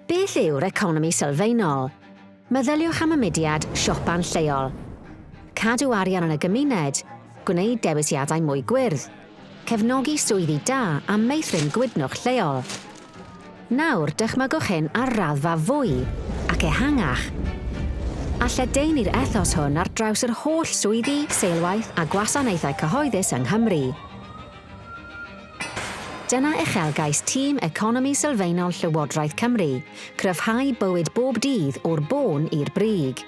Beth yw'r economi sylfaenol? Meddyliwch am y mudiad siopa'n lleol. Cadw arian yn y gymuned, gwneud dewisiadau mwy gwyrdd, cefnogi swyddi da a meithrin gwydnwch lleol. Nawr, dychmygwch hyn ar raddfa fwy ac ehangach. A lledaenu'r ethos hwn ar draws yr holl swyddi, seilwaith a gwasanaethau cyhoeddus yng Nghymru. Dyna uchelgais tîm Economi Sylfaenol Llywodraeth Cymru, cryfhau bywyd bob dydd o'r bôn i'r brig.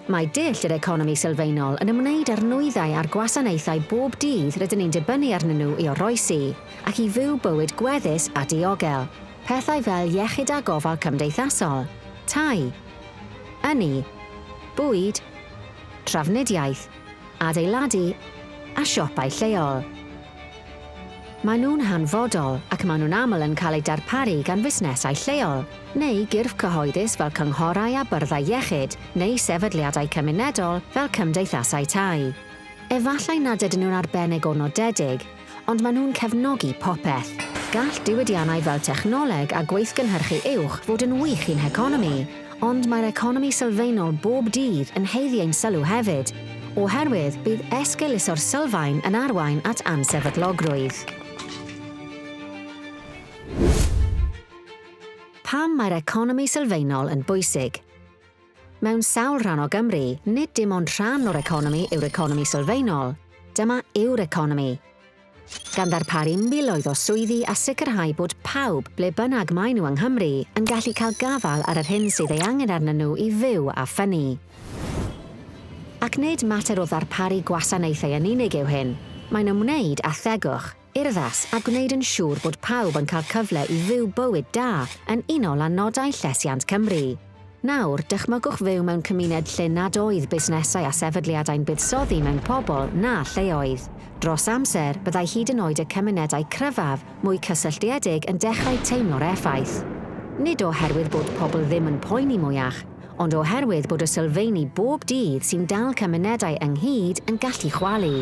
Mae dull yr economi sylfaenol yn ymwneud â'r nwyddau a'r gwasanaethau bob dydd rydyn ni'n dibynnu arnyn nhw i oroesi ac i fyw bywyd gweddus a diogel, pethau fel iechyd a gofal cymdeithasol, tai, ynni, bwyd, trafnidiaeth, adeiladu a siopau lleol. Maen nhw'n hanfodol ac maen nhw'n aml yn cael eu darparu gan fusnesau lleol, neu gyrff cyhoeddus fel cynghorau a byrddau iechyd, neu sefydliadau cymunedol fel cymdeithasau tai. Efallai nad ydyn nhw'n arbennig o nodedig, ond maen nhw'n cefnogi popeth. Gall diwydiannau fel technoleg a gweithgynhyrchu uwch fod yn wych i'n heconomi, ond mae'r economi sylfaenol bob dydd yn haeddu ein sylw hefyd, oherwydd bydd esgeuluso'r sylfaen yn arwain at ansefydlogrwydd. Pam mae'r economi sylfaenol yn bwysig? Mewn sawl rhan o Gymru, nid dim ond rhan o'r economi yw'r economi sylfaenol, dyma yw'r economi. Gan ddarparu miloedd o swyddi a sicrhau bod pawb, ble bynnag maen nhw yng Nghymru, yn gallu cael gafael ar yr hyn sydd ei angen arnyn nhw i fyw a ffynnu. Ac nid mater o ddarparu gwasanaethau yn unig yw hyn, mae'n ymwneud â thegwch. urddas a gwneud yn siŵr bod pawb yn cael cyfle i fyw bywyd da yn unol â nodau Llesiant Cymru. Nawr, dychmygwch fyw mewn cymuned lle nad oedd busnesau a sefydliadau'n buddsoddi mewn pobl na lleoedd. Dros amser, byddai hyd yn oed y cymunedau cryfaf, mwy cysylltiedig yn dechrau teimlo'r effaith. Nid oherwydd bod pobl ddim yn poeni mwyach, ond oherwydd bod y sylfeini bob dydd sy'n dal cymunedau ynghyd yn gallu chwalu.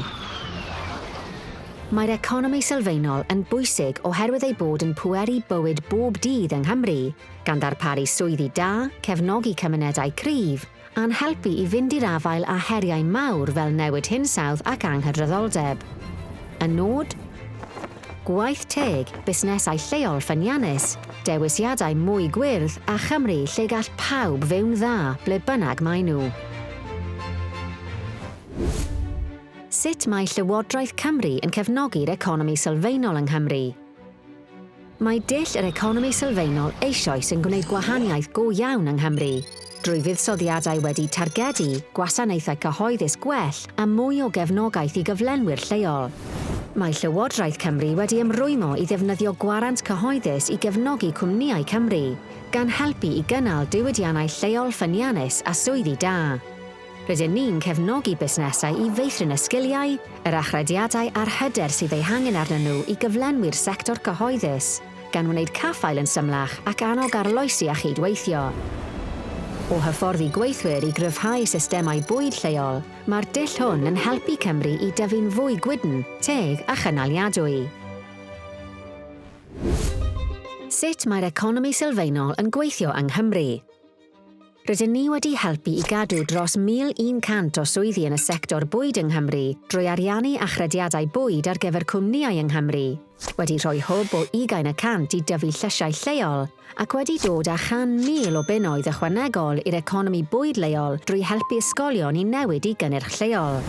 Mae'r economi sylfaenol yn bwysig oherwydd ei bod yn pweru bywyd bob dydd yng Nghymru, gan ddarparu swyddi da, cefnogi cymunedau cryf, a'n helpu i fynd i'r afael â heriau mawr fel newid hinsawdd ac anghydraddoldeb. Y nod? Gwaith teg, busnesau lleol ffyniannus, dewisiadau mwy gwyrdd a Chymru lle gall pawb fyw'n dda ble bynnag maen nhw. Sut mae Llywodraeth Cymru yn cefnogi'r economi sylfaenol yng Nghymru? Mae dull yr economi sylfaenol eisoes yn gwneud gwahaniaeth go iawn yng Nghymru, drwy fuddsoddiadau wedi targedu, gwasanaethau cyhoeddus gwell a mwy o gefnogaeth i gyflenwyr lleol. Mae Llywodraeth Cymru wedi ymrwymo i ddefnyddio gwarant cyhoeddus i gefnogi cwmnïau Cymru, gan helpu i gynnal diwydiannau lleol ffyniannus a swyddi da. Rydyn ni'n cefnogi busnesau i feithrin y sgiliau, yr achrediadau a'r hyder sydd eu hangen arnyn nhw i gyflenwi'r sector cyhoeddus, gan wneud caffael yn symlach ac annog arloesi a chyd-weithio. O hyfforddi gweithwyr i gryfhau systemau bwyd lleol, mae'r dull hwn yn helpu Cymru i dyfu'n fwy gwydn, teg a chynaliadwy. Sut mae'r economi sylfaenol yn gweithio yng Nghymru? Rydyn ni wedi helpu i gadw dros 1,100 o swyddi yn y sector bwyd yng Nghymru drwy ariannu achrediadau bwyd ar gyfer cwmnïau yng Nghymru, wedi rhoi hwb o ugain y cant i dyfu llysiau lleol, ac wedi dod â chan mil o bunnoedd ychwanegol i'r economi bwyd leol drwy helpu ysgolion i newid i gynnyrch lleol.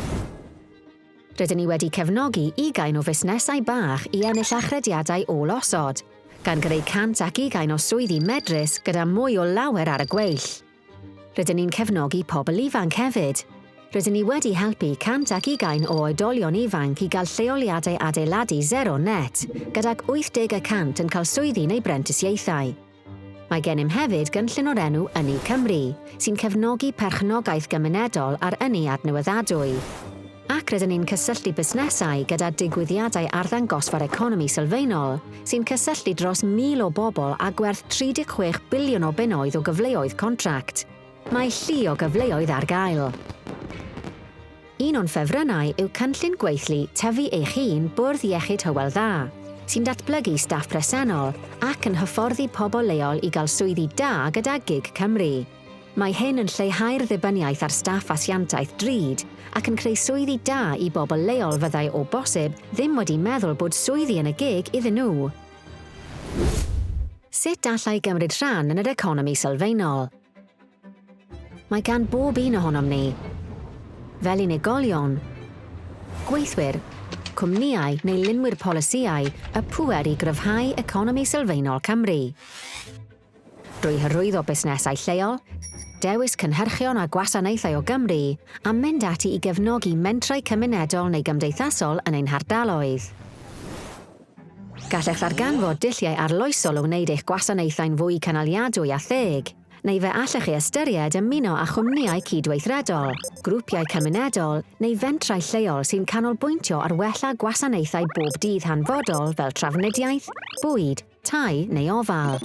Rydyn ni wedi cefnogi ugain o fusnesau bach i ennill achrediadau ôl-osod, gan greu 120 o swyddi medrus gyda mwy o lawer ar y gweill. Rydyn ni'n cefnogi pobl ifanc hefyd. Rydyn ni wedi helpu 120 o oedolion ifanc i gael lleoliadau adeiladu zero net, gydag 80 y cant yn cael swyddi neu brentisiaethau. Mae gennym hefyd gynllun o'r enw Ynni Cymru, sy'n cefnogi perchnogaeth gymunedol a'r ynni adnewyddadwy. Ac rydyn ni'n cysylltu busnesau gyda digwyddiadau arddangosfa'r economi sylfaenol, sy'n cysylltu dros 1,000 o bobl â gwerth 36 biliwn o bunnoedd o gyfleoedd contract. Mae llu o gyfleoedd ar gael. Un o'n ffefrynnau yw cynllun gweithlu Tyfu Eich Un Bwrdd Iechyd Hywel Dda, sy'n datblygu staff presennol ac yn hyfforddi pobl leol i gael swyddi da gyda gig Cymru. Mae hyn yn lleihau'r ddibyniaeth ar staff asiantaeth drud ac yn creu swyddi da i bobl leol fyddai o bosib ddim wedi meddwl bod swyddi yn y gig iddyn nhw. Sut allai gymryd rhan yn yr economi sylfaenol? Mae gan bob un ohonom ni, fel unigolion, gweithwyr, cwmnïau neu lunwyr polisïau y pŵer i gryfhau economi sylfaenol Cymru. Drwy hyrwyddo busnesau lleol, dewis cynhyrchion a gwasanaethau o Gymru, a mynd ati i gefnogi mentrau cymunedol neu gymdeithasol yn ein hardaloedd. Gallech ddarganfod dulliau arloesol o wneud eich gwasanaethau'n fwy cynaliadwy a theg, neu fe allech chi ystyried ymuno â chwmnïau cydweithredol, grwpiau cymunedol neu fentrau lleol sy'n canolbwyntio ar wella gwasanaethau bob dydd hanfodol fel trafnidiaeth, bwyd, tai neu ofal.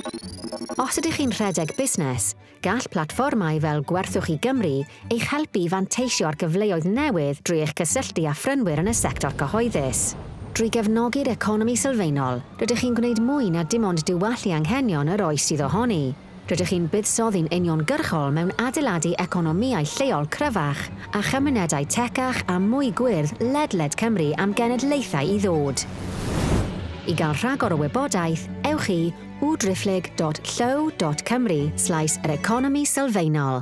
Os ydych chi'n rhedeg busnes, Gall platfformau fel Gwerthwch i Gymru eich helpu i fanteisio ar gyfleoedd newydd drwy eich cysylltu â phrynwyr yn y sector cyhoeddus. Drwy gefnogi'r economi sylfaenol, rydych chi'n gwneud mwy na dim ond diwallu anghenion yr oes sydd ohoni. Rydych chi'n buddsoddi'n uniongyrchol mewn adeiladu economïau lleol cryfach a chymunedau tecach a mwy gwyrdd ledled Cymru am genedlaethau i ddod. I gael rhagor o wybodaeth, ewch i www.driphlyg.llyw.cymru slaes yr economi sylfaenol.